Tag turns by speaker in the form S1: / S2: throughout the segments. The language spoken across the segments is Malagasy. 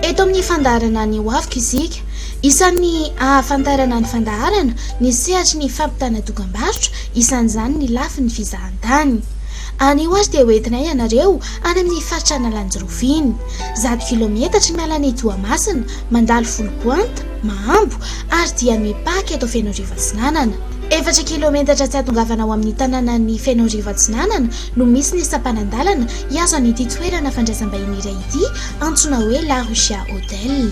S1: Eto amin'ny fandaharana ny ho aviko isika. Isan'ny ahafantarana ny fandaharana ny sehatry ny fampitana dokam-barotra, isan'izany ny lafiny fizahantany. Anio ary dia hoentinay ianareo any amin'ny faritra Analanjirofo iny. Zato kilaometatra ny miala an'i Toamasina, mandalo Foulpointe, Mahambo ary dia mipaka eto Fenoarivo Atsinanana. Efatra kilaometatra tsy ahatongavana ao amin'ny tanànan'i Fenoarivo Atsinanana no misy ny sampanan-dalana hihazo an'ity toerana fandraisam-bahiny iray ity antsoina hoe La Rusia Hotel.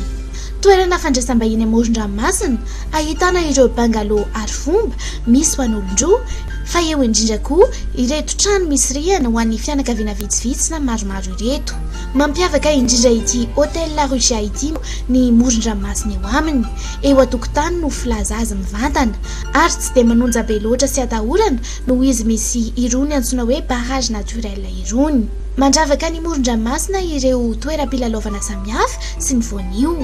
S1: Toerana fandraisam-bahiny amoron-dranomasina, ahitana ireo bungalow arifomba misy ho an'olon-droa, fa eo indrindra koa ireto trano misy rihana ho an'ny fianakaviana vitsivitsy na maromaro ireto. Mampiavaka indrindra ity Hotel La Rusia ity ny moron-dranomasina eo aminy, eo an-tokotany no filaza azy mivantana, ary tsy dia manonja be loatra sy atahorana noho izy misy irony antsoina hoe barrage naturel irony. Mandravaka ny moron-dranomasina ireo toeram-pilalaovana samihafa sy ny voanio.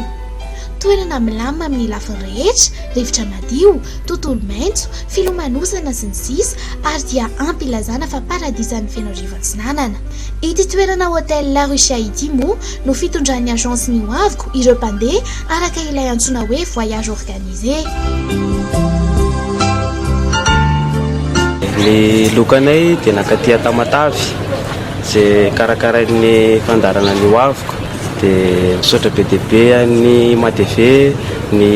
S1: Toerana milamina amin'ny lafiny rehetra, rivotra madio, tontolo maitso, filomanosana, sy ny sisa ary dia ampy hilazana fa paradisan'ny Fenoarivo Atsinanana. Ity toerana Hôtel La Rucia ity moa no fitondran'ny agence ny hoaviko ireo mpandeha araka ilay antsoina hoe voyage organique. Ny lokanay dia nankaty Tamatave izay karakarain'ny fandaharana ny hoaviko. Dia misaotra be dia be an'ny Imatv ny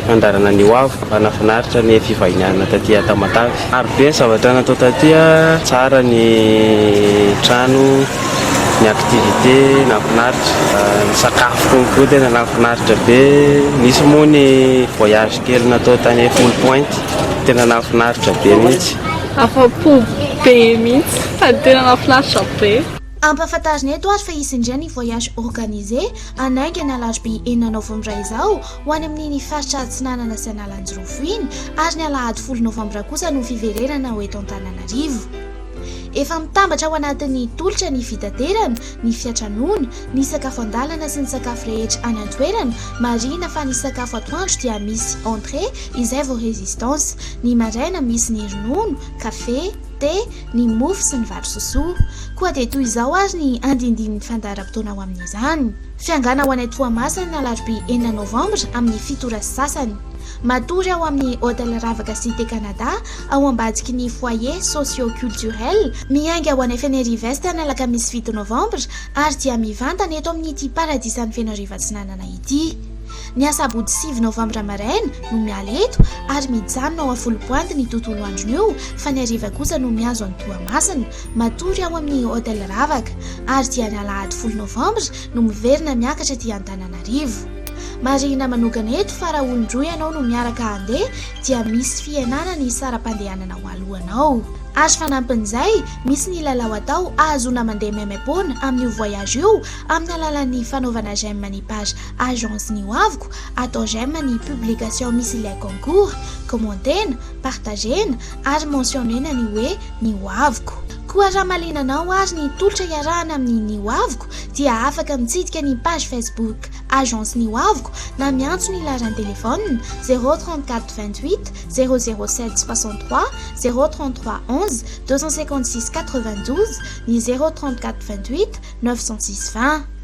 S1: fandaharana ny hoaviko. Nahafinaritra ny fivahinianana taty Tamatave. Maro be ny zavatra natao taty a, tsara ny trano, ny activité nahafinaritra, ny sakafo konko tena nahafinaritra be, nisy moa ny voyage kely natao tany Foul Point tena nahafinaritra be mihitsy. Afa-po be mihitsy sady tena nahafinaritra be. Ampahafantarina eto ary fa hisy indray ny voyage organisé hanainga ny alarobia enina novambra izao, ho any amin'ny ny faritra Atsinanana sy Analanjirofo iny ary ny alahady folo novambra kosa no fiverenana ho eto Antananarivo. Efa mitambatra ao anatin'ny tolotra ny fitaterana, ny fiatranoana, ny sakafo an-dalana sy ny sakafo rehetra any an-toerana, marihina fa ny sakafo atoandro dia misy entrée izay vao résistance, ny maraina misy ny ronono, kafe, thé, ny mofo sy ny vary sosoa. Koa dia toy izao ary ny andindinin'ny fandaharam-potoana ho amin'izany. Fiangana ho any Toamasina ny alarobia enina novambra amin'ny fito ora sy sasany. Matory ao amin'ny Hotel Ravaka Cité Canada ao ambadiky ny Foyer Socio Culturel miainga ho any Fenerive-Est ny alakamisy fito novambra ary dia mivantana eto amin'ity paradisan'i Fenoarivo Atsinanana ity. Ny asabotsy sivy novambra maraina no miala eto ary mijanona ao Afolompoanty ny tontolo andron'io fa ny hariva kosa no mihazo an'i Toamasina. Matory ao amin'ny Hotel Ravaka ary dia ny alahady folo novambra no miverina miakatra aty Antananarivo. Marihina manokana eto fa raha olon-droa ianao no miaraka handeha dia misy fihenana ny saram-pandehanana ho alohanao. Ary fanampin'izay, misy ny lalao atao ahazoana mandeha maimaim-poana amin'io voyage io amin'ny alalan'ny fanaovana j'aime ny page Agence ny ho aviko, atao j'aime ny publication misy ilay concours, kômentena, partagena, ary mentionner-na ny hoe ny ho aviko. Koa raha malina anao ary ny tolotra iarahana amin'ny ny ho aviko dia afaka mitsidika ny page Facebook Agence ny ho aviko na miantso ny laharan-telefaonina zéro trente quatre vingt huit zéro zéro sept soixante trois zéro trente trois onze deux cent cinquante six quatre vingt douze ny zéro trente quatre vingt huit neuf cent six vingt